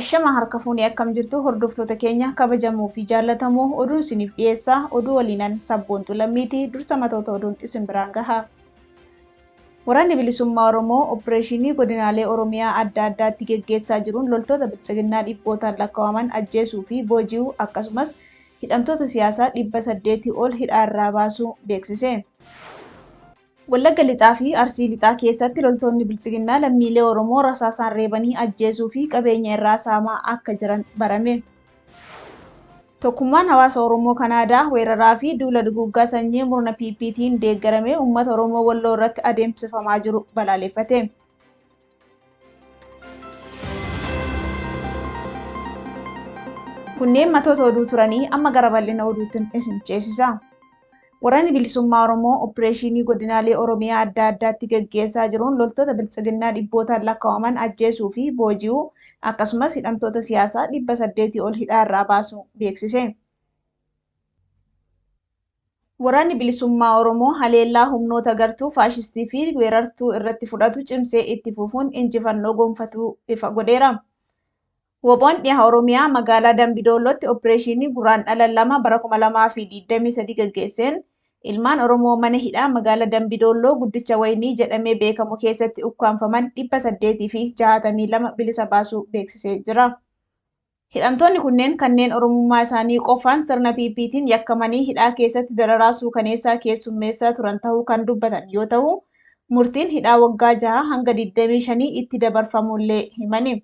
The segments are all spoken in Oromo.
Ashama harka fuunee akkam jirtu hordoftoota keenya kabajamoo fi jaallatamoo oduun isiniif dhiyeessaa oduu waliinan sabboontuu lammiiti dursa matoota oduun isin biraan gaha. Waraanni bilisummaa Oromoo oppireeshinii godinaalee Oromiyaa adda addaatti geggeessaa jiruun loltoota biltsiginnaa dhibbootaan lakkaa'aman ajjeesuu fi booji'uu akkasumas Hidhamtoota siyaasaa 800 ol hidhaa irraa baasuu beeksise. Wallagga Lixaa fi Arsii Lixaa keessatti loltoonni Biltsiginnaa lammiilee Oromoo rasaasaan reebanii ajjeesuu fi qabeenya irraa saamaa akka jiran barame. Tokkummaan Hawaasa Oromoo Kanaadaa weeraraa fi duula duguuggaa sanyii murna PPtiin deeggaramee uummata Oromoo Walloo irratti adeemsifamaa jiru balaaleffate. Kunneen matoota oduu turanii amma gara bal'ina oduuttin isin ceesisa. Waraanni Bilisummaa Oromoo oppireeshinii godinaalee Oromiyaa adda addaatti gaggeessaa jiruun loltoota biltsiginnaa dhibbootaan lakkaa'aman ajjeesuu fi booji'uu akkasumas hidhamtoota siyaasaa dhibba saddeetii ol hidhaa irraa baasuu beeksise. Waraanni Bilisummaa Oromoo haleellaa humnoota gartuu faashistii fi weerartuu irratti fudhatu cimsee itti fufuun injifannoo gonfatu ifa godheera. Wobon Dhiha Oromiyaa magaalaa Dambi Doollootti oppireeshiinii Guraandhala 2 bara 2023 gaggeesseen ilmaan Oromoo mana hidhaa magaala Dambi Doolloo guddicha Waynii jedhamee beekamu keessatti ukkaamfaman 862 bilisa baasuu beeksisee jira. Hidhamtoonni kunneen kanneen Oromummaa isaanii qofaan sirna PPtiin yakkamanii hidhaa keessatti dararaa suukaneessaa keessummeessaa turan tahuu kan dubbatan yoo tahu, murtiin hidhaa waggaa jahaa hanga digdamii shanii itti dabarfamuullee himani.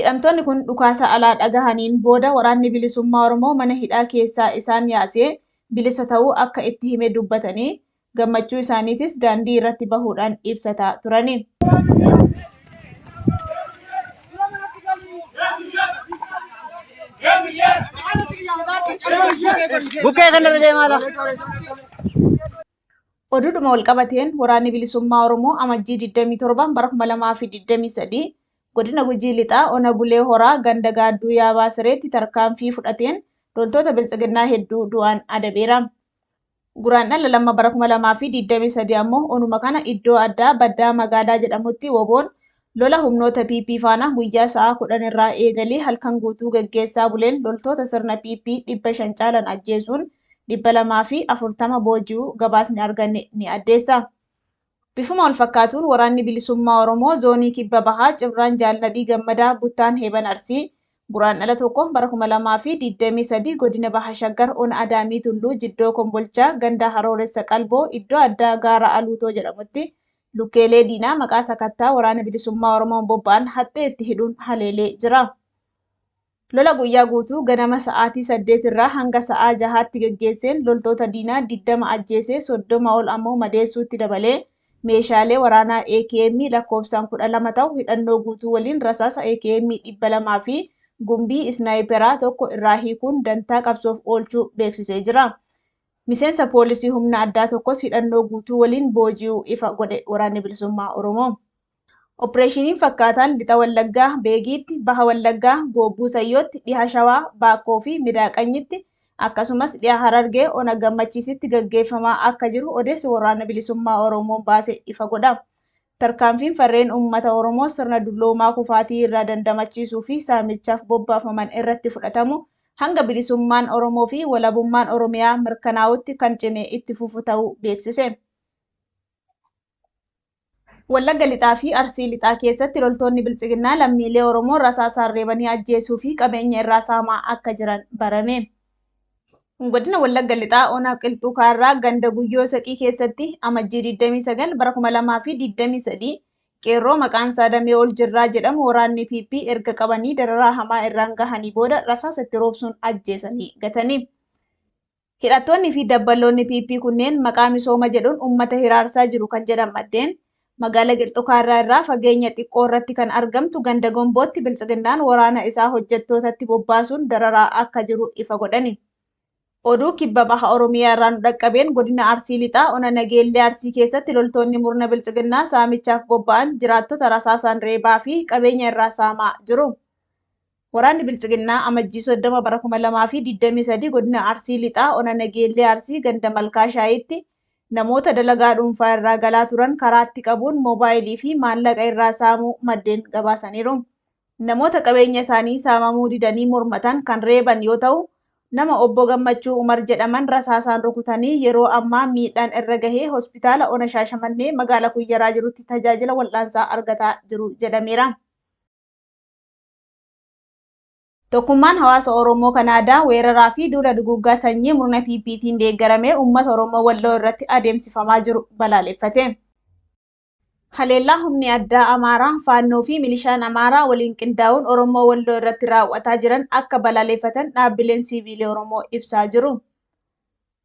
Hidhamtoonni kun dhukaasa alaa dhagahaniin booda Waraanni Bilisummaa Oromoo mana hidhaa keessaa isaan yaasee bilisa tahuu akka itti hime dubbatanii, gammachuu isaaniitis daandii irratti bahuudhaan ibsataa turani. Bukkee kan irra deemaa laata? Oduudhuma walqabateen waraanni bilisummaa Oromoo amajjii 27 bara 2023 godina Gujii Lixaa Ona Bulee Horaa ganda Gaadduu Yaabaa Sireetti tarkaanfii fudhateen loltoota biltsiginnaa hedduu du'aan adabeera. Guraandhala 2 bara 2023 ammoo onuma kana iddoo addaa Baddaa Magaalaa jedhamutti woboon lola humnoota PP faana guyyaa sa'aa 10 irraa eegalee halkan guutuu gaggeessaa buleen loltoota sirna PP 500 caalan ajjeesuun 240 booji'uu gabaasni arganne ni addeessa. Bifuma walfakkaatuun Waraanni Bilisummaa Oromoo Zoonii Kibba Bahaa Cibraan Jaal Nadhii Gammadaa Buttaan Heeban Arsii Guraandhala 1 bara 2023 Godina Baha Shaggar Ona Adaamii Tulluu Jiddoo Kombolchaa Ganda Harooressa Qalboo iddoo addaa Gaara Aluutoo jedhamutti lukkeelee diinaa maqaa sakattaa Waraana Bilisummaa Oromoon bobba'an haxxee itti hidhuun haleelee jira. Lola guyyaa guutuu ganama sa'aatii 8 irraa hanga sa'aa 6tti geggeesseen loltoota diinaa 20 ajjeesee 30 ol ammoo madeessuutti dabalee meeshaalee waraanaa AKM lakkoofsaan 12 ta'u hidhannoo guutuu waliin rasaasa AKM 200 fi gumbii isnaayiperaa tokko irraa hiikuun dantaa qabsoof oolchuu beeksisee jira. Miseensa poolisii humna addaa tokkos hidhannoo guutuu waliin booji'uu ifa godhe Waraanni Bilisummaa Oromoo. Oppireeshiniin fakkaataan Lixa Wallaggaa, Beegiitti, Baha Wallaggaa, Goobbuu Sayyootti, Dhiha Shawaa, Baakkoo fi Midaa Qanyitti, akkasumas Dhiha Harargee, Ona Gammachiisitti gaggeeffamaa akka jiru odeessi Waraana Bilisummaa Oromoo baase ifa godha. Tarkaanfiin farreen uummata Oromoo sirna dulloomaa kufaatii irraa dandamachiisuu fi saamichaaf bobbaafaman irratti fudhatamu hanga bilisummaan Oromoo fi walabummaan Oromiyaa mirkanaa'utti kan cimee itti fufu ta'uu beeksise. Wallagga Lixaa fi Arsii Lixaa keessatti loltoonni Biltsiginnaa lammiilee Oromoo rasaasaan reebanii ajjeesuu fi qabeenya irraa saamaa akka jiran barame. Godina Wallagga Lixaa Ona Qilxuu Kaarraa ganda Guyyoo Saqii keessatti Amajjii 29 bara 2023 qeerroo maqaan isaa Damee Ol Jirraa jedhamu waraanni PP erga qabanii dararaa hamaa irraan gahanii booda rasaasa itti roobsuun ajjeesanii gatani. Hidhattoonni fi dabballoonni PP kunneen maqaa misooma jedhuun ummata hiraarsaa jiru kan jedhan maddeen, magaala Qilxu Kaarraa irraa fageenya xiqqoo irratti kan argamtu ganda Gombootti Biltsiginnaan waraana isaa hojjettootatti bobbaasuun dararaa akka jiru ifa godhani. Oduu Kibba Baha Oromiyaa irraa nu dhaqqabeen Godina Arsii Lixaa Ona Nageellee Arsii keessatti loltoonni murna Biltsiginnaa saamichaaf bobba'an jiraattota rasaasaan reebaa fi qabeenya irraa saamaa jiru. Waraanni Biltsiginnaa Amajjii 30 bara 2023 godina Arsii Lixaa ona Nageellee Arsii ganda Malkaa Shaayiitti namoota dalagaa dhuunfaa irraa galaa turan karaatti qabuun moobaayilii fi maallaqa irraa saamuu maddeen gabaasaniiru. Namoota qabeenya isaanii saamamuu didanii mormatan kan reeban yoo ta'u, nama Obbo Gammachuu Umar jedhaman rasaasaan rukutanii yeroo ammaa miidhaan irra gahee hospitaala ona Shaashamannee magaala Kuyyaraa jirutti tajaajila wal'aansaa argataa jiru jedhameera. Tokkummaan hawaasa Oromoo kan aadaa weeraraa fi duula duguuggaa sanyii murna PPtiin deeggaramee uummata Oromoo Walloo irratti adeemsifamaa jiru balaaleffate. Haleellaa humni addaa Amaaraa, Faannoo fi milishaan Amaaraa waliin qindaa'uun Oromoo Walloo irratti raaw'ataa jiran akka balaaleffatan dhaabbileen siiviilii Oromoo ibsaa jiru.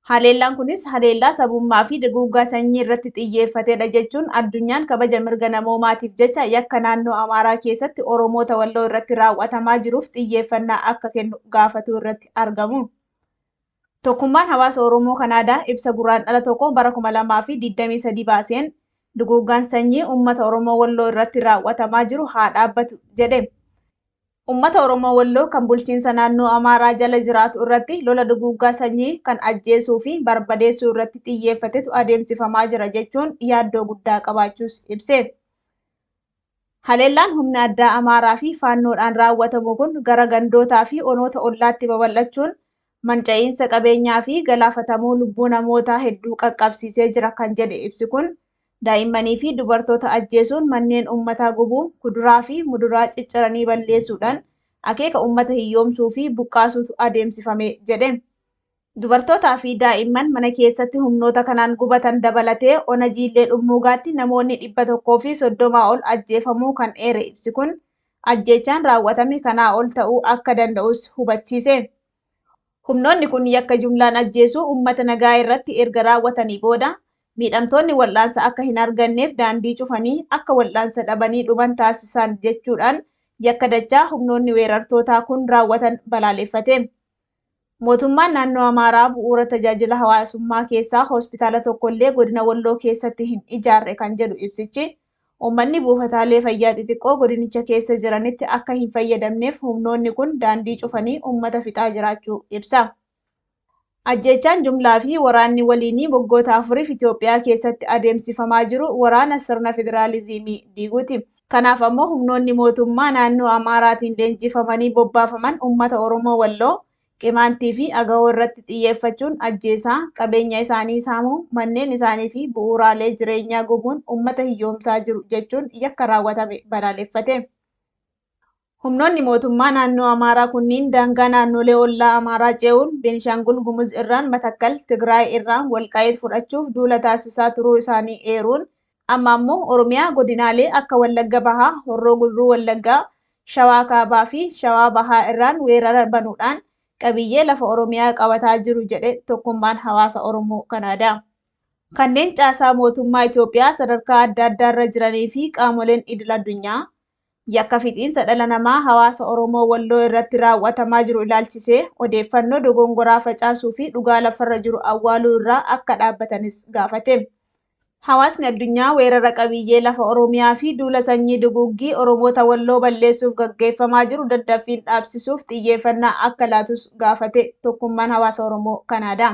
Haleellaan kunis haleellaa sabummaa fi duguuggaa sanyii irratti xiyyeeffatedha jechuun addunyaan kabaja mirga namoomaatiif jecha yakka naannoo Amaaraa keessatti Oromoota Walloo irratti raaw'atamaa jiruuf xiyyeeffannaa akka kennu gaafatuu irratti argamu. Tokkummaan Hawaasa Oromoo Kanaadaa ibsa Guraandhala 1 bara 2023 baaseen duguuggaan sanyii uummata Oromoo Walloo irratti raaw'atamaa jiru haa dhaabbatu jedhe. Ummata Oromoo Walloo kan bulchiinsa naannoo Amaaraa jala jiraatu irratti lola duguuggaa sanyii kan ajjeesuu fi barbadeessuu irratti xiyyeeffatetu adeemsifamaa jira jechuun yaaddoo guddaa qabaachuus ibse. Haleellaan humna addaa Amaaraa fi Faannoodhaan raawwatamu kun gara gandootaa fi onoota ollaatti babal'achuun manca'iinsa qabeenyaa fi galaafatamuu lubbuu namootaa hedduu qaqqabsiisee jira kan jedhe ibsi kun, daa'immanii fi dubartoota ajjeesuun manneen uummataa gubuu, kuduraa fi muduraa cicciranii balleessuudhaan akeeka uummata hiyyoomsuu fi buqqaasuutu adeemsifame jedhe. Dubartootaa fi daa'imman mana keessatti humnoota kanaan gubatan dabalatee ona Jiillee Dhummuugaatti namoonni 130 ol ajjeefamuu kan eere ibsi kun, ajjeechaan raawwatame kanaa ol ta'uu akka danda'us hubachiise. Humnoonni kun yakka jumlaan ajjeesuu uummata nagaa irratti erga raawwatanii booda miidhamtoonni wal'aansa akka hin arganneef daandii cufanii akka wal'aansa dhabanii dhuman taasisan jechuudhaan yakka dachaa humnoonni weerartootaa kun raawwatan balaaleeffate. Mootummaan naannoo Amaaraa bu'uura tajaajila hawaasummaa keessaa hospitaala tokkollee godina Walloo keessatti hin ijaarre kan jedhu ibsichi, uummanni buufataalee fayyaa xixiqqoo godinicha keessa jiranitti akka hin fayyadamneef humnoonni kun daandii cufanii uummata fixaa jiraachuu ibsa. Ajjeechaan jumlaa fi waraanni waliinii waggoota afuriif Itoophiyaa keessatti adeemsifamaa jiru waraana sirna federaaliziimii diiguuti. Kanaaf ammoo humnoonni mootummaa naannoo Amaaraatiin leenjifamanii bobbaafaman uummata Oromoo Walloo, Qimaantii fi Agawoo irratti xiyyeeffachuun ajjeesaa, qabeenya isaanii saamuu, manneen isaanii fi bu'uuraalee jireenyaa gubuun uummata hiyyoomsaa jiru jechuun yakka raawwatame balaaleffate. Humnoonni mootummaa naannoo Amaaraa kunniin daangaa naannolee ollaa Amaaraa ce'uun Beenishaangul Gumuz irraan Matakkal, Tigraay irraan Walqaayit fudhachuuf duula taasisaa turuu isaanii eeruun, amma ammoo Oromiyaa godinaalee akka Wallagga Bahaa, Horroo Guduruu Wallaggaa, Shawaa Kaabaa fi Shawaa Bahaa irraan weerara banuudhaan qabiyyee lafa Oromiyaa qabataa jiru jedhe Tokkummaan Hawaasa Oromoo Kanaadaa. Kanneen caasaa mootummaa Itoophiyaa sadarkaa adda addaarra jiranii fi qaamoleen idil-addunyaa Yakka fixiinsa dhala namaa hawaasa Oromoo Walloo irratti raaw'atamaa jiru ilaalchisee odeeffannoo dogongoraa facaasuu fi dhugaa lafarra jiru awwaaluu irraa akka dhaabbatanis gaafate. Hawaasni addunyaa weerara qabiyyee lafa Oromiyaa fi duula sanyii duguuggii Oromoota Walloo balleessuuf gaggeeffamaa jiru daddaffiin dhaabsisuuf xiyyeeffannaa akka laatus gaafate, Tokkummaan Hawaasa Oromoo Kanaadaa.